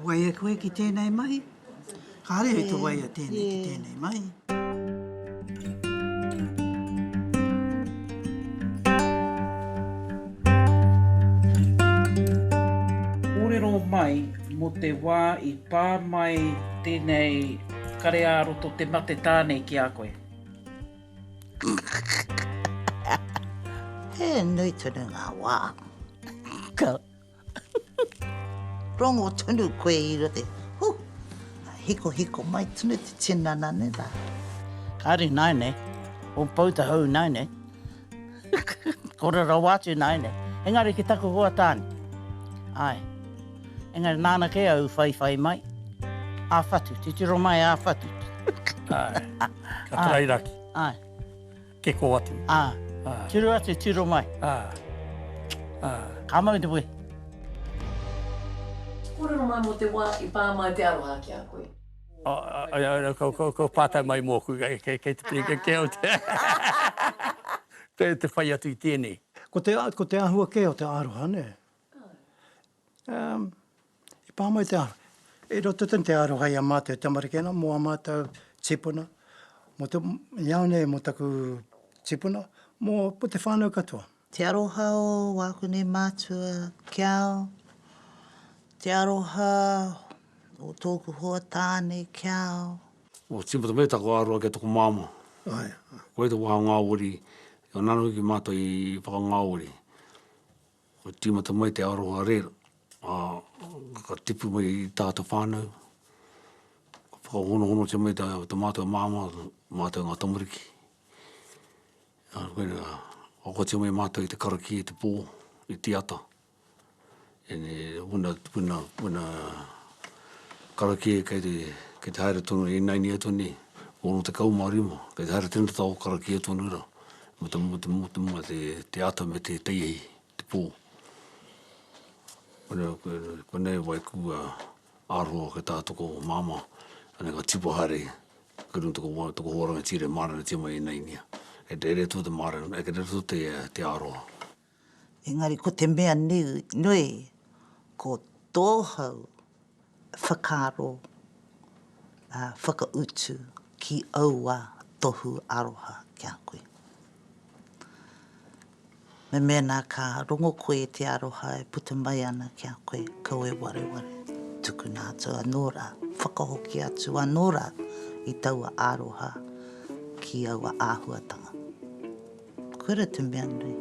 Waia koe ki tēnei mahi? Kāre au te waia tēnei ki tēnei mahi. Kōrero mai mō te wā i pā mai tēnei kare ā-roto te mate tāne ki a koe? He nui tonu ngā wā. Ka. Rongo tonu koe i roto i. Hu! Hikohiko mai tonu te tinana nei rā. Kāre nāi nei. O Poutahou nāi nei. Ko Rarawaatu nāi nei. Engari ki taku hoa tāne. Āe. Engari nāna kē au whaiwhai mai. Āwhatu, titiro mai āwhatu. Āe. Ka tarai raki. Ai. Keko atu. Ah. Ah. Tiro atu, tiro mai. Ah. Ah. Ka mau te wē. Kōrero mai mō te wā i pā mai te aroha ki a koe. Ko pātai mai mōku, kei te piri, kei te au te... Kei te whai atu i tēnei. Ko te ahua kē o te aroha, nē? Um, e pā mai te aro. E roto tonu te aro hai a mātou tamariki anō, mō a mātou tipuna, mō te, i au nei mō taku tipuna, mō, mō te whānau katoa. Te aroha o wāku nei mātua ki au, te aroha o tōku hoa tāne ki au. Ko tīmata mai taku aroha ki a tōku māmā. Ai. Koia te wāhangāwari, nō nāna hoki mātou i whakangāwari. Ka tīmata mai te aroha reo, ā, ka tipu mai i tā te whānau, ka whakahonohonotia mai tā mātou māmā, mātou ngā tamariki, ā, koina, aukati mai mātou i te karakia i te pō, i te ata, karakia kei te, kei te haere tonu i naini atu nei, ono tekau ma rima, kei te haere tēnei tau karakia tonu rā, Mo te mo te mo te mo te te ata me te teihi te po. Kona kona e wai ku a aroha ke ta toko mama ane ka tipa hare ke no toko wa toko wa rangatira mara na tima i nai nia. E te re to te mara e ke te to te te aroha. Engari ko te mea nui, ko tōhau whakaaro whakautu ki aua tohu aroha ki a koe. Me mēnā ka rongo koe i te aroha e puta mai ana ki a koe, kau e wareware, tukuna atu anō rā, whakahoki atu anō rā i taua aroha ki aua āhuatanga. Kura te mea nui.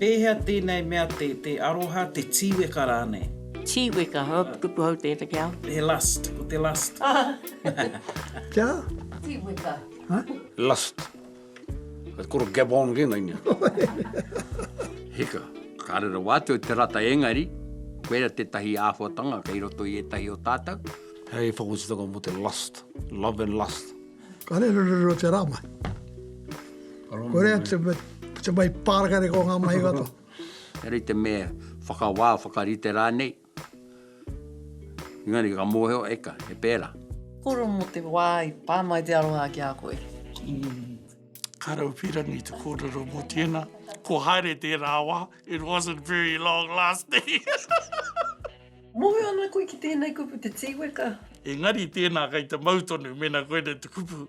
Pēhea tēnei mea te, te aroha, te tīweka rānei? Tīweka, he kupu hou tēnei ki au. He lust, ko te lust. Kia? Tīweka. Lust. Kei koro Gabon ke ngai nia. Hika. Ka rera wātou te rata engari, koera tētahi āhuatanga kei roto i ētahi o tātou. Hei whakotutanga mō te lust, love and lust. Ka rerorero te rā mai. Korea te, te mai pārakare ko ngā mahi katoa. Hei te mea whakawā, whakarite rānei. Engari ka mōhio eka, he pērā. Koro mō te wā i pā mai te aroha ki a koe. Karawhirangi te kōrero mō tēnā. Ko haere tērā wā, it wasn't very long lasting. Mōhio ana koe ki tēnei kupu te tīweka? Engari tēnā kei te mau tonu mēnā koinei te kupu.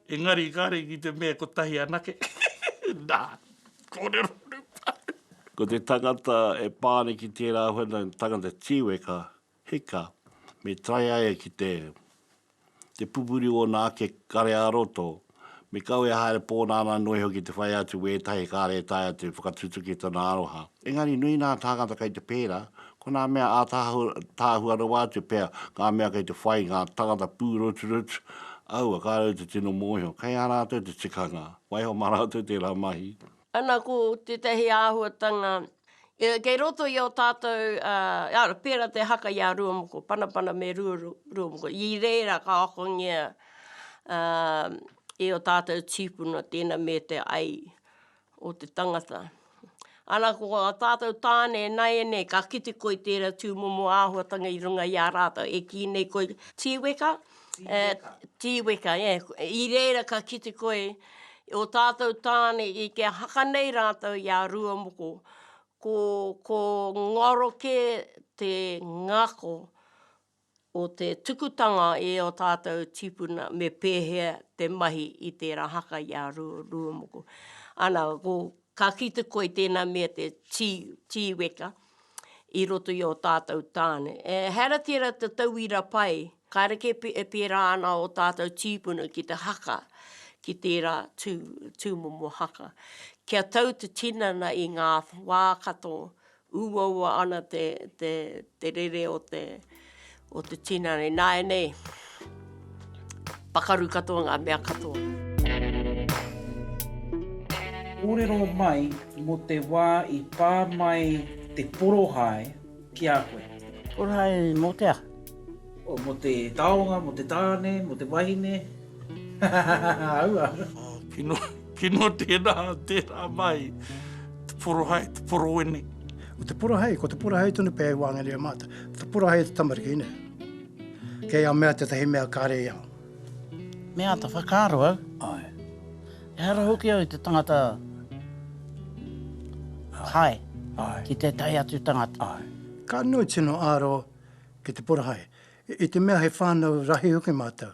Engari kare ki te mea kotahi anake. Na, korero nu paru. Ko te tangata e pa ana ki tera whana tangata tiweka, hika, me taea e ki te te pupuri ona ake kare a roto, me kau e haere po nana noa iho ki te whai atu wetahi kare e taea te whakatutuki tona aroha. Engari nui nā tāngata kei te pērā, ko nā mea ātaahua rawa atu pea ngā mea kei te whai ngā tāngata pūroturotu, aua kā rau te tino mōhio, kei a rātou te tikanga, waiho mā rātou tērā mahi. Ana ko tētahi āhuatanga kei roto i ō tātou, ara, pērā te haka i a Ruamoko, Panapana me Ruamoko, i reira ka akongia e ō tātou tīpuna tēnā me te ai, o te tangata. Ana ko a tātou tāne e naianei ka kite koe i tērā tūmomo āhuatanga i runga i a rātou e kī nei koe tīweka, tīweka, yeah, i reira ka kite koe o tātou tāne i kia haka nei rātou i a rua moko, ko, ko ngaro kē te ngako, o te tukutanga i ō tātou tīpuna me pēhea te mahi i tērā haka i a Rūomoko. Ana, ko, ka kī te koi tēnā mea te tī, tīweka i roto i ō tātou tāne. E hera tērā te tauira pai, kāre kē e pērā ana ō tātou tīpuna ki te haka, ki tērā tū, tūmomo haka. Kia tau te tinana i ngā wā katoa, Uaua ana te, te, te rere o te, o te tinana. Nāianei, pakaru katoa ngā mea katoa. Kōrero mai mō te wā i pā mai te porohae ki a koe. Porohae mō te aha? Oh, mo te taonga, mo te tāne, mo te wahine. Aua. Oh, kino, kino tērā, tērā mai. Te porohai, te porowene. Ko te porohai, ko te porohai tonu pē i wāngere a mātou. Te porohai e te tamariki, ne? Kei a mea te tahi mea kāre i aho. Me āta whakaaro au. Ai. E hara hoki au i te tangata hai. Ai. Ki te tahi atu tangata. Ai. Ka nui tino āro ki te porahae, i te mea he whānau rahi hoki mātou.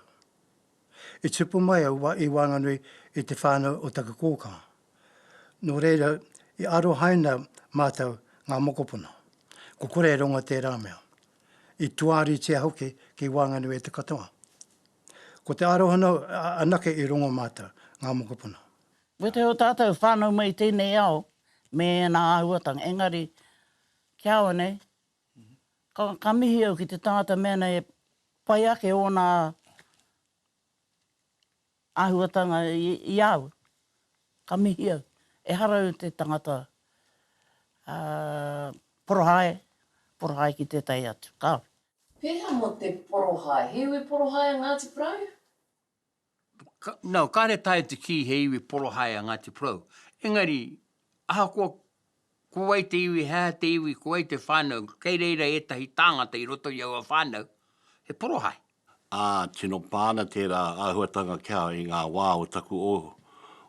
I tipu mai au i waenganui i te whānau o taku kōkanga. Nō reira, i arohaina mātou ngā mokopuna. Ko kore e rongo tērā mea. I tuaritia hoki ki waenganui e te katoa. Ko te arohano anake i rongo mātou, ngā mokopuna. Ko te o tātou whānau mai i tēnei ao me ēnā āhuatanga, engari, kia au anei, Ka mihi au ki te tangata mea nei e pai ake ōna āhuatanga i a au. Ka mihi au. Ehara au te tangata porohae, porohae ki tētahi atu. Kāore. Pēhea mō te porohae? He iwi porohae a Ngāti Porou? Nau, kāre taea te kī he iwi porohae a Ngāti Porou. Engari, ahakoa ko wai te iwi, he aha te iwi, ko wai te whānau, kei reira ētahi tāngata i roto i aua whānau, he porohae. Ā, tino pā ana tērā āhuatanga kia i ngā wā o taku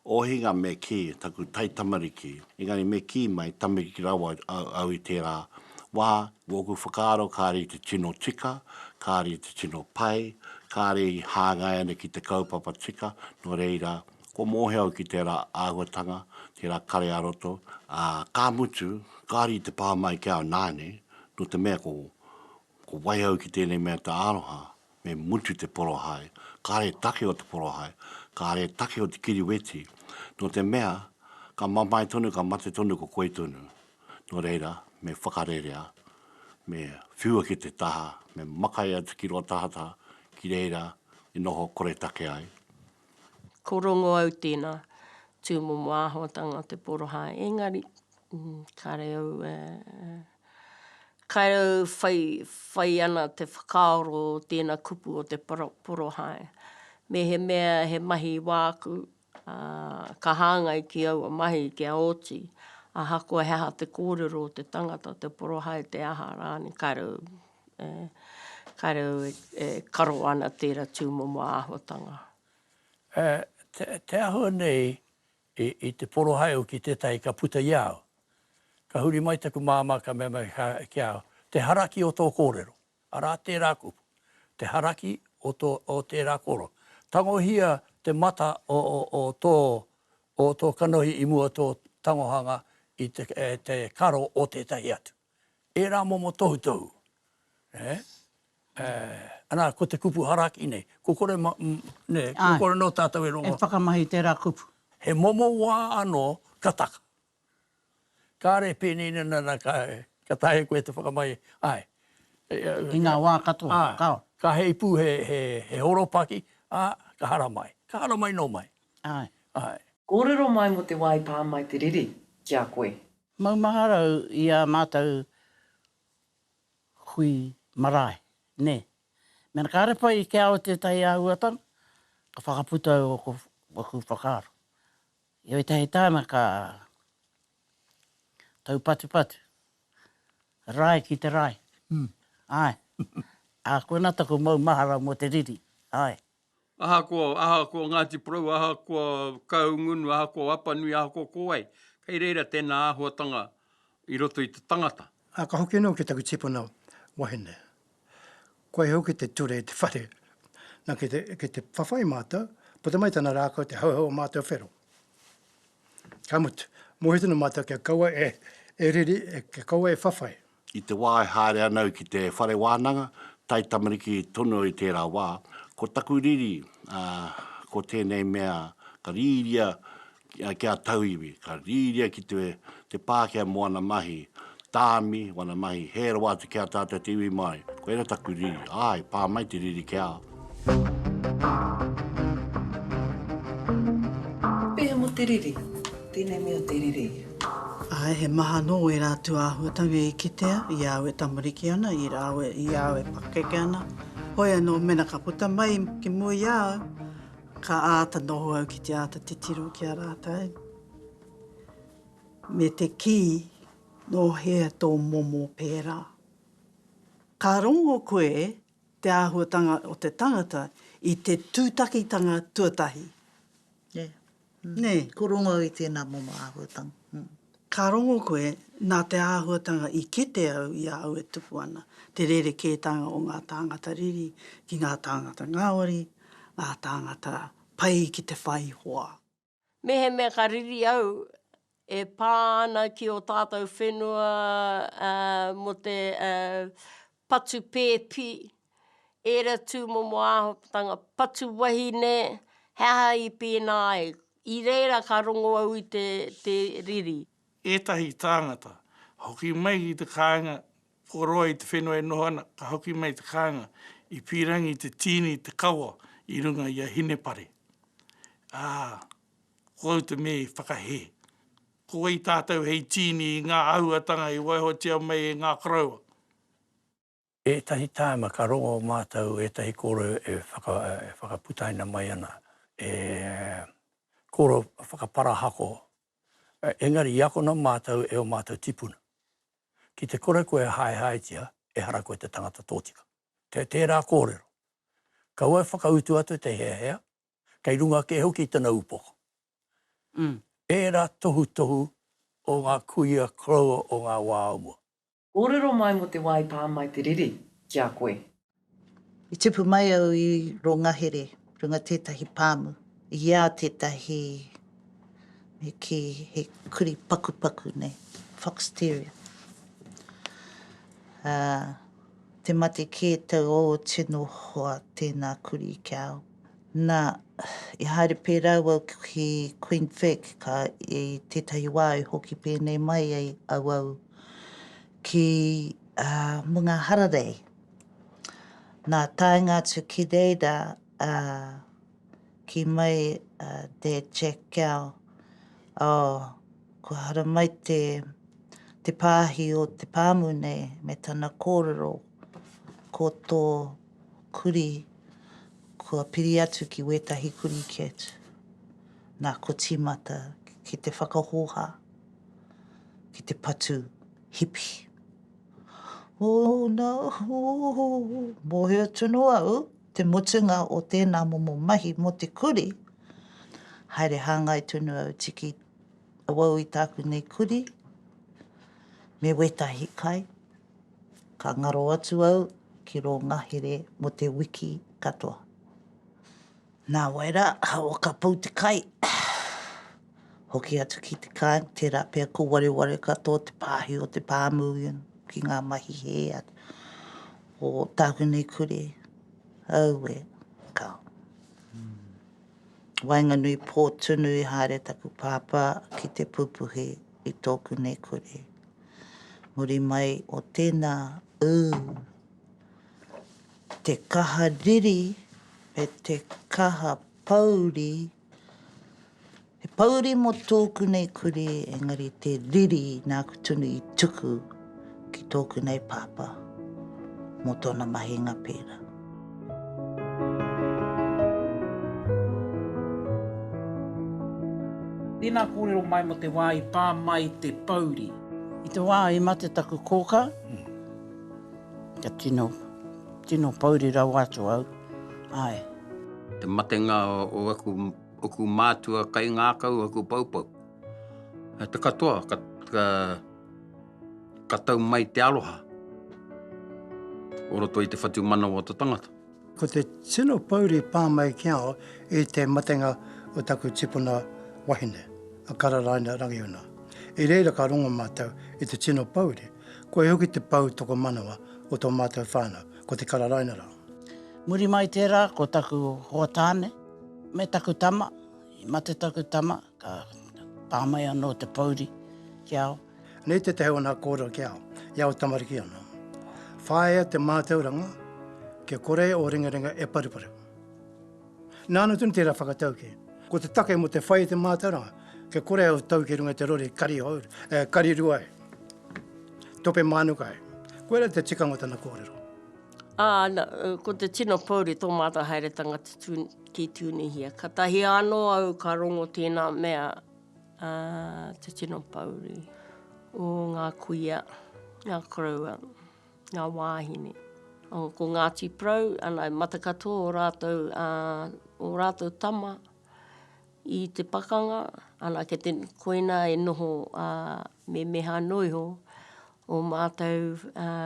Ohinga me kī, taku taitamariki. Engari me kī mai, tamariki rawa au i tērā wā. Wōku whakaaro kāre i te tino tika, kāre i te tino pai, kāre i hāngai ana ki te kaupapa tika, nō reira, kua mōhio au ki tērā āhuatanga, tērā kare-ā-roto, ā, ka mutu, kāre i te pā mai ki au nāne, nō te mea ko wai au ki tēnei mea te aroha, Me mutu te porohae, kāre take o te porohae, kāre take o te kiriweti, nō te mea, ka mamae tonu, ka mate tonu ko koe tonu. Nō reira, me whakarerea, me whiua ki te taha, me makai atu ki rō tahataha, ki reira i noho koretake ai. Ko Rongoau tēnā, tūmomo āhuatanga o te porohae, engari, kāre au e. Kau whai ana te whakaaro o tēna kupu o te porohae. Mehemea he mahi wāku, ā, ka hāngai ki aua mahi kia oti, ahakoa he aha te kōrero o te tangata, te porohae, te aha rānei, kau, ē, kau e karo ana tērā tūmomo āhuatanga. Te āhua nei I te poro hae au ki tētahi ka puta i a au. Ka huri mai taku māmā ka mea mai ki a au, Te haraki o tō kōrero. Arā tērā kupu. Te haraki o tērā kōrero. Tangohia te mata o tō kanohi i mua o tō tangohanga i te karo o tētahi atu. ērā momo tohutohu, eh, eh, ana, ko te kupu haraki nei, ko kore, nē, ko kore anō tātou e rongo. E whakamahi tērā kupu. He momo wā anō ka taka. Kāre pēnei nana nā ka, ka taea koe te whakamahi, āe. I ngā wā katoa, kao. Ka heipū he, he, he horopaki, ā, ka haramai. Ka haramai nō mai. Āe. Āe. Kōrero mai mō te wā i pā mai te riri ki a koe. Maumaharau i ā mātou hui marae, nē. Mēnā kāre pai i kia au tētahi āhuatanga, ka whakaputa au ōku ōku whakaaro. I ētahi tāna ka taupatupatu, rae ki te rae, āe. Ā, koinā taku maumahara mō te riri, āe. Ahakoa, ahakoa Ngāti Porou, ahakoa Kahungunu, ahakoa Apanui, ahakoa ko wai, kei reira tēnā āhuatanga i roto i te tangata. Ā, ka hoki anō ki taku tipuna wahine. Koia hoki te ture i te whare. Nā, kei te, kei te whawhai mātou, puta mai tana rākau, te hauhau o mātou whero. Ka mutu, mōhio tonu mātou kia kaua e, e riri, e, kia kaua e whawhai. I te wā e haere ana au ki te whare wānanga, taitamariki tonu i tērā wā, ko taku riri, ā, ko tēnei mea ka rīria kia tauiwi, ka rīria ki te Pākehā mō ana mahi tāmi, mō ana mahi hē rawa atu ki a tātou te iwi Māori. Koirā taku riri, āe, pā mai te riri ki a au. Pēhea mō te riri? Tēnei mea te riri. Āe, he maha anō ērā atu āhuatanga i kitea, i a au e tamariki ana, i a au, i a au e pakeke ana. Hoi anō, mena ka puta mai ki mua i a au, ka āta noho au ki te āta titiro ki a rātou, me te kī, Nō hea tō momo pērā? Ka rongo koe te āhuatanga o te tangata i te tūtakitanga tuatahi. Nē. Nē. Ko rongo au i tēnā momo āhuatanga. Ka rongo koe, nā te āhuatanga i kite au i a au e tupu ana, te rerekētanga o ngā tāngata riri ki ngā tāngata ngāwari, ngā tāngata pai ki te whai hoa. Mehemea ka riri au, e pā ana ki ō tātou whenua mō te patu pēpi, ērā tūmomo āhupatanga, patu wahine, he aha i pēnā ai? I reira ka rongo au i te riri. Ētahi tāngata, hoki mai ki te kāinga Whakaroa i te whenua e noho ana, ka hoki mai te kānga, i pīrangi te tīni i te kawa i runga i a Hinepare. Ā, ko au te mea i whakahē. Ko wai tātou hei tīni i ngā āhuatanga i waihotia mai e ngā koroua? Ētahi tāima ka rongo mātou ētahi kōrero e whakaputaina mai ana, e kōrero whakaparahako Engari i akona mātou e ō mātou tipuna. Ki te kore koe e haehaetia, ehara koe te tangata tōtika. Kei tērā kōrero. Kaua e whakautu atu te heahea, kei runga kē hoki i tana upoko. Ērā tohutohu o ngā kuia koroua o ngā wā o mua. Kōrero mai mō te wā i pā mai te riri ki a koe. I tipu mai au i Rongahere runga tētahi pāmu. I a tētahi he kī, he kuri pakupaku nei, fox terrier. Ā, te mate kē tau ō tino hoa tēnā kuri kia au. Nā, i haere pērā au ki Queen Vic, ka i tētahi wā i hoki pēnei mai ai auau ki Munga Hararei. Nā, taenga atu ki reira, kī mai a Dad Jack Gow, oh, kua haramai te pāhi o te pāmu nei me tana kōrero, ko tō. Kurī, kua piri atu ki wētahi kurī ki atu. Nā, kua tīmata ki te whakahōhā, ki te patu hipi. Oh, no, oh, mōhio tonu au te mutunga o tēnā momo mahi mō te kurī. Haere hāngai tonu au tiki awau i tāku nei kurī me wētahi kai. Ka ngaro atu au ki rō ngahere mō te wiki katoa. Nā wai rā, ahawa ka pau te kai, hoki atu ki te kāinga, tērā pea ko wareware katoa te pāhi o te pāmu ki ngā mahi hē o tāku nei kure. Aue, ka waenganui pō tunu i haere taku pāpā ki te pupuhi. i tōku nei kore. Muri mai o tēnā, ū, te kaha riri me te kaha pōuri, he pōuri mō tōku nei kore, engari te riri nāku tonu i tuku. ki tōku nei pāpā mō tōna mahinga pērā. Tēnā kōrero mai mō te wā i pā mai te pouri. I te wā i mate taku kōkā, ka tino, tino pouri rawa atu au, āe. Te matenga o aku, oku mātua kaingākau, aku poupou. Te katoa, ka, ka, ka tau mai te aroha o roto i te whatumanawa o te tangata. Ko te tino pouri pā mai ki au i te matenga o taku tipuna wahine, a Kararaina Rangiuna. I reira ka rongo mātou i te tino pouri, koia hoki te pou tokomanawa o tō mātou whānau, ko te Kararaina rā. Muri mai tērā ko taku hoa tāne me taku tama, i mate taku tama, Ka pā mai anō te pouri ki a au. Nei tētahi o nā kōrero ki a au, i aua tamariki anō. Whāia te mātauranga kia kore ō ringaringa e paruparu. Nāna tonu tērā whakataukī. Ko te take mō te whai i te mātauranga, kia kore au tau ki runga i te rori kari hōuru, e kari rua ai, tope mānuka ai. Koirā te tikanga o tana kōrero. Ā, ko te tino pouri tō mātou haeretanga tutū. ki Tunihia. Katahi ano au ka rongo tena mea a te tino pouri o nga kuia, nga koroua, nga wahine. Ko Ngati Porou, ana mata katoa o ratou a o ratou tama i te pakanga, ana ke te koina e noho a memeha no iho o matou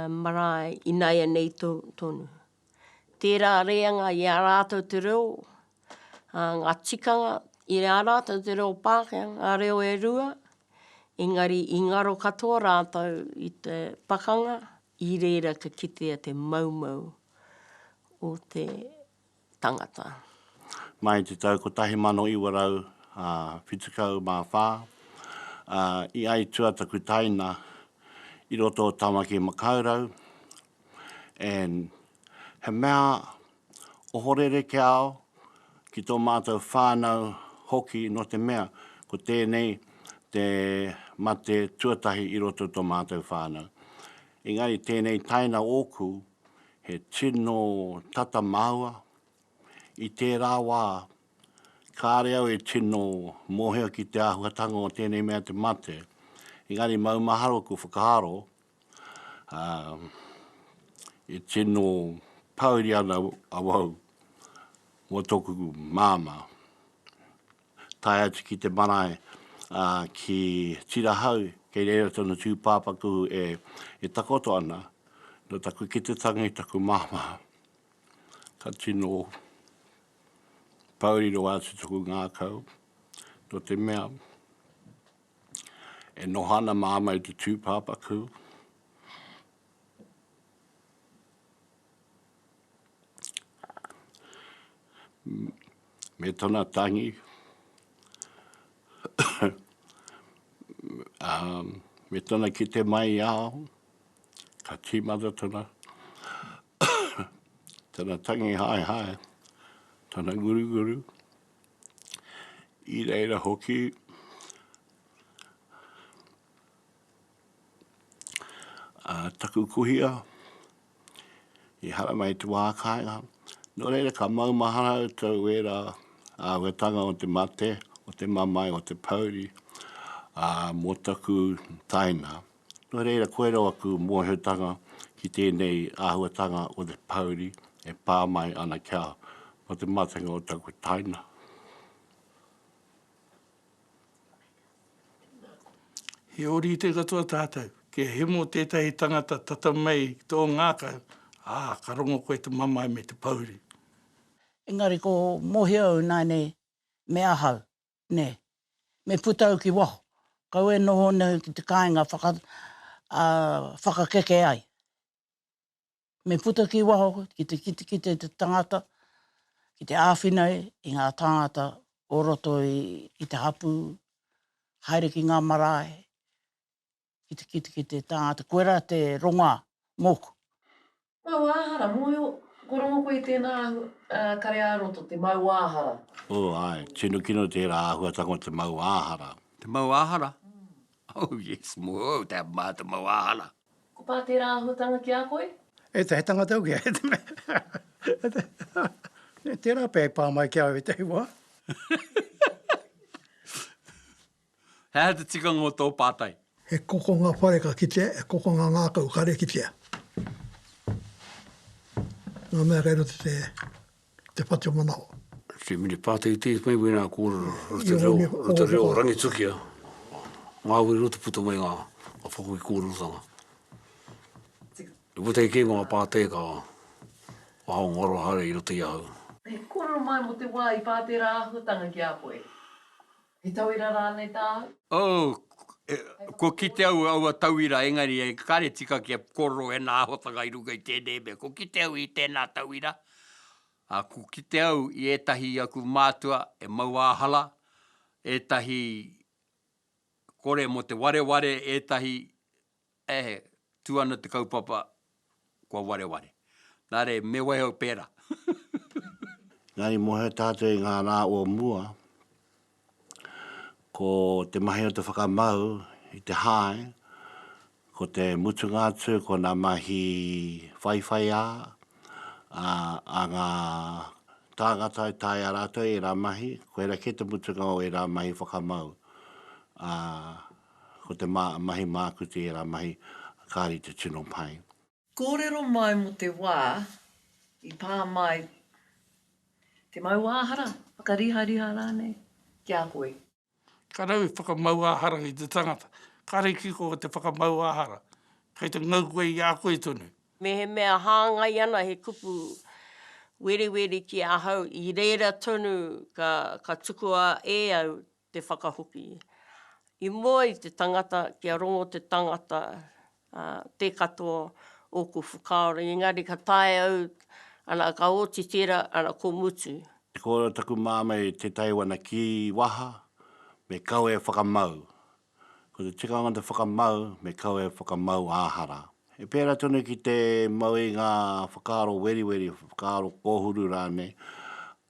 marae inaianei tonu. tērā rēanga i a rātou te reo, ā, ngā tikanga i a rātou te reo Pākehā, ngā reo e rua, engari i ngaro katoa rātou i te pakanga, i reira ka kitea te maumau o te tangata. Mai i te tau 1974, i aitua taku taina i roto o Tamaki Makaurau, and he mea ohorere ki a au, ki tō mātou whānau hoki nō te mea ko tēnei te mate tuatahi i roto i tō mātou whānau. Engari tēnei taina ōku he tino tata māua, i tērā wā kāre au e tino mōhio ki te āhuatanga o tēnei mea te mate, engari maumahara ōku whakaaro, e tino pāuri ana awau mō tōku māmā. Tae atu ki te marae, ki Tirahau, kei reira tōna tūpāpaku e takoto ana, nō taku ki te tangi i taku māmā. Ka tino pāuri rawa atu tōku ngākau, nō te mea, E noho ana māma i te tūpāpaku. Me tona tangi. um, me tona kite mai i ao, ka tīmata tona, tona tangi hai hai, tona guru guru, I reira hoki, a taku kuhia, i haramai i te wā kāinga. Nō reira, ka maumahara au tau e rā āhuatanga o te mate, o te mamae, o te pouri, ā, mō taku taina. Nō reira, koirā aku mōhiotanga ki tēnei āhuatanga o te pouri e pā mai ana kia mō te matenga o taku taina. He ōrite katoa tātou, kia hemo tētahi tangata tata mai ki tō ngākau, ā, ka rongo koe te mamae me te pouri. Engari ko Mohi au, nainei me ahau. nē, me puta au ki waho, kau e noho nei ki te kāinga whaka, ā, whakakeke ai. Me puta ki waho ki te kitekite i te tangata, ki te āwhina i ngā tāngata o roto i te hapū, haere ki ngā marae, Kitikitiki te tangata, koe ra te ronga moku. Mauāhara, moe o. Kua rongo koe i tēnā kare-ā-roto, te mauāhara. Oh, ae, tino kino tērā āhuatanga o te mauāhara. Te mauāhara? Oh, yes, moe o te maha te mauāhara. Ko pā tērā āhuatanga ki a koe? E te, he tangata au kē, he te mea. Tērā pea i pā mai ki au i te wā. He aha te tikanga o tō pātai? He kokonga whare ka kitea, he kokonga ngākau kare kitea. Ngā mea kei roto i te whatu manawa. Te mini pātai i tēnei paper i ngā kōrero roto reo, roto reo rangitukia, ngāwari roto puta mai ngā whakawe i kōrerotanga. I puta i kē ngā pātai ka waho ngā aroha haere i roto i ahau. He kōrero mai mō te wā i pā tērā āhuatanga ki a koe? He tauira rānei tāu? Oh, kua kite au aua tauira engari e kare tika kia kōrero ēnā āhuatanga i runga i tēnei mea. Kua kite au i tēnā tauira, ā, kua kite au i ētahi i aku mātua e mauāhala, ētahi kore mō te wareware, ētahi E tū ana te kaupapa kua wareware. Nā reira, me waiho pērā. Nā, i mōhio tātou i ngā rā o mua, ko te mahi o te whakamau i te hae, ko te mutunga atu ko ngā mahi whaiwhaiā a ngā tāngata e taea rātou ērā mahi, koirā kē te mutunga o ērā mahi whakamau. Ko te ma, mahi māku tērā mahi, kāre i te tino pai. Kōrero mai mō te wā i pā mai te mauāhara, whakarihariha rānei, ki a koe. Ka rawe whakamauāhara ki te tangata. Kāre i kiko te whakamauāhara, kei te ngau koe i a koe tonu. Mehemea hāngai ana he kupu werewere ki ahau, i reira tonu ka tukua e au te whakahoki. I mua i te tangata kia rongo te tangata, ā, tē katoa ōku whakaaro, engari ka taea au, ana, ka oti tērā, ana, ko Mutu. Ko taku māmā i tētahi wana kī waha, me kau e whakamau. Ko te tikanga o te whakamau, me kau e whakamau ā-hara. He pērā tonu ki te mau i ngā whakaaro weriweri, whakaaro kōhuru rānei,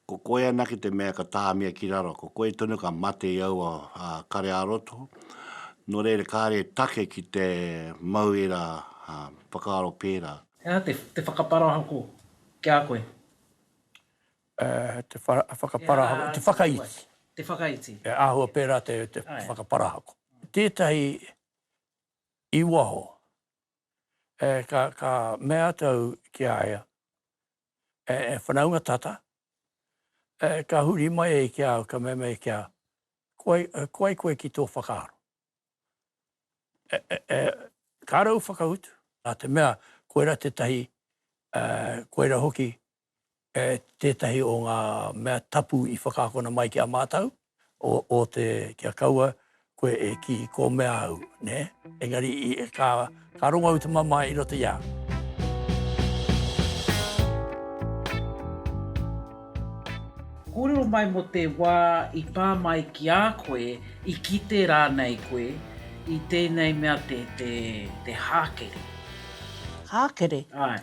Ko koe anake te mea ka tāmia ki raro, ko koe tonu ka mate i aua kare-ā-roto. Nō reira, kāre e take ki te mau ērā whakaaro pērā. He aha te whakaparahako ki a koe? Te whakaparahako, te whakaiti. Te whakaiti. He āhua pērā te whakaparahako. Tētahi i waho, ka mea atu au ki a ia, e whanaunga tata, e ka huri mai e ki au, ka mea mai ki au, ko ai, ko ai koe ki tō whakaaro. E, e, e, ka rau whakautu, nā te mea, koera tētahi, e, koera hoki, e, tētahi o ngā mea tapu i whakaakona mai ki a mātou. o te kia kaua koe e kī ko mea au, nē? Engari ka rongo au i te mamae i roto i a au. Kōrero mai mō te wā i pā mai ki a koe, i kite rānei koe i tēnei mea te hākere. Hākere? Āe.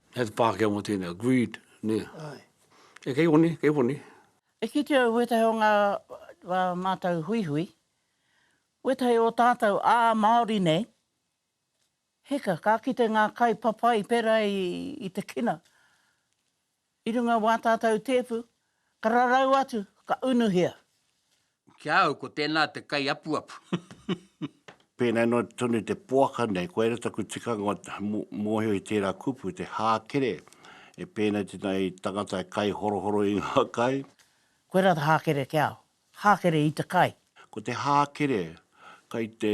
He te Pākehā mō tēnā, greed, nē. Āe. Kei honi, kei honi. E kitea au wētahi o ngā mātou huihui, wētahi o tātou ā Māori nei, hika, ka kite ngā kai papai pērā i te kina, i runga wā tātou tēpu, ka rarau atu, ka unuhia. Ki a au, ko tēnā te kaiapuapu. Pēnei noa tonu te poaka nei, koia rā taku tikanga o mōhio i tērā kupu, te hākere, e pēnei tēnā i tangata e kaihorohoro i ngā kai. Koia rā te hākere ki a au. Hākere i te kai. Ko te hākere, kai te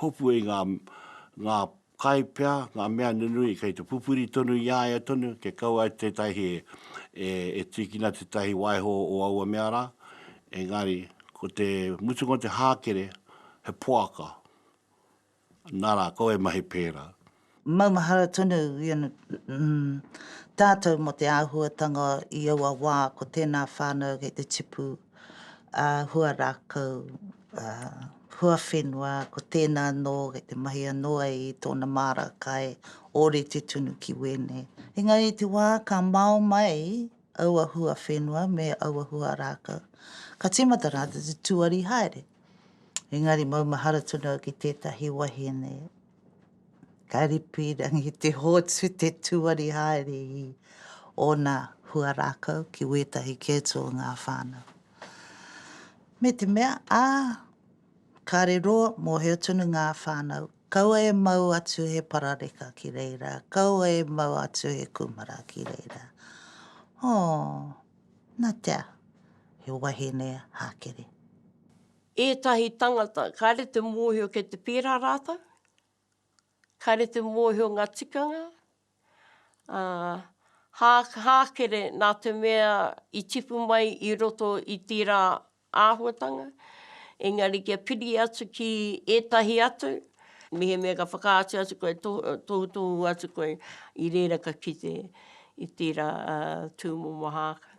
hopu i ngā Kai pea nga mea nunui kei te pupuri tonu i a ia tonu, kia kaua e tetahi e tikina tetahi waiho o aua mea ra, engari ko te mutunga o te hakere he poaka, nara kau e mahi pera. Maumahara tonu tatou mo te ahuatanga i aua wa, ko tena whanau kei te tipu. ā, hua rākau, ā, hua whenua, ko tēnā anō kei te mahi anō ai i tōna māra kai, ōrite tunu ki wēnei. Engari i te wā ka mao mai aua hua whenua me aua hua rākau, ka tīmata rātou te tuari haere. Engari maumahara tonu au ki tētahi wahine, Ka ripīrangi te hōtū te tūari haere i ōna huarākau ki wētahi kēto o ngā whānau. Me te mea, ā, kāre roa mōhio tonu ngā whānau, kaua e mau atu he parareka ki reira, kaua e mau atu he kūmara ki reira. Ō, nā te aha, he wahine hākere. Ētahi tangata, kāre te mōhio kei te pērā rātou, kāre te mōhio ngā tikanga, ā, hā, hākere nā te mea i tipu mai i roto i tērā āhuatanga, engari kia piri atu ki ētahi atu, mehemea ka whakaatu atu koe, tohutohu atu koe, i reira ka kite i tērā tūmomo hākere.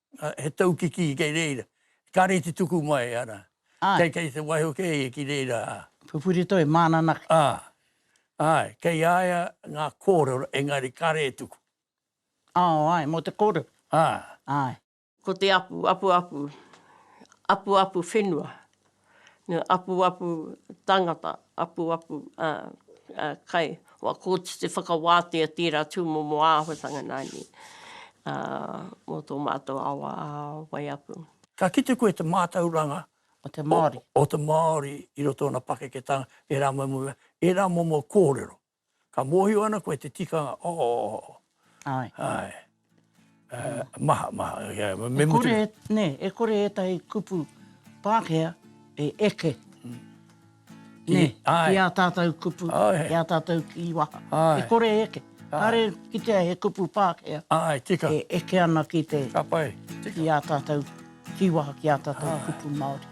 he taukiki kei reira, kare te tuku mai, ara. Ai. Kei te waiho kei, ki reira, a. Pupuri toi, mānanaki. A, ae, kei a ia ngā kōrero, engari kare e tuku. Ao, ae, mō te kōrero. A. Ae. Ko te apu, apuapu, apuapu whenua. apuapu tangata, apuapu kai, kua koti te whakawātea i tērā tūmomo āhuatanga nani mō tō mātou awa a Waiapu. Ka kite koe te mātauranga o te Māori i roto o ngā pakeketanga, ērā momo kōrero. Ka mōhio ana koe te tikanga, oh, oh, oh. Ai. Ai. Uh, maha, maha. Yeah, me e kore, mutu... ne, e kore ētahi kupu Pākehā e eke. Mm. Ne, ai. i a tātou kupu, ai. i a tātou kīwaha. Ai. E kore e eke. Kāre kitea he kupu Pākehā. Ai, tika. E eke ana ki te... Ka pai. Tika. Ki a tātou kīwaha, ki a tātou ai. kupu Māori.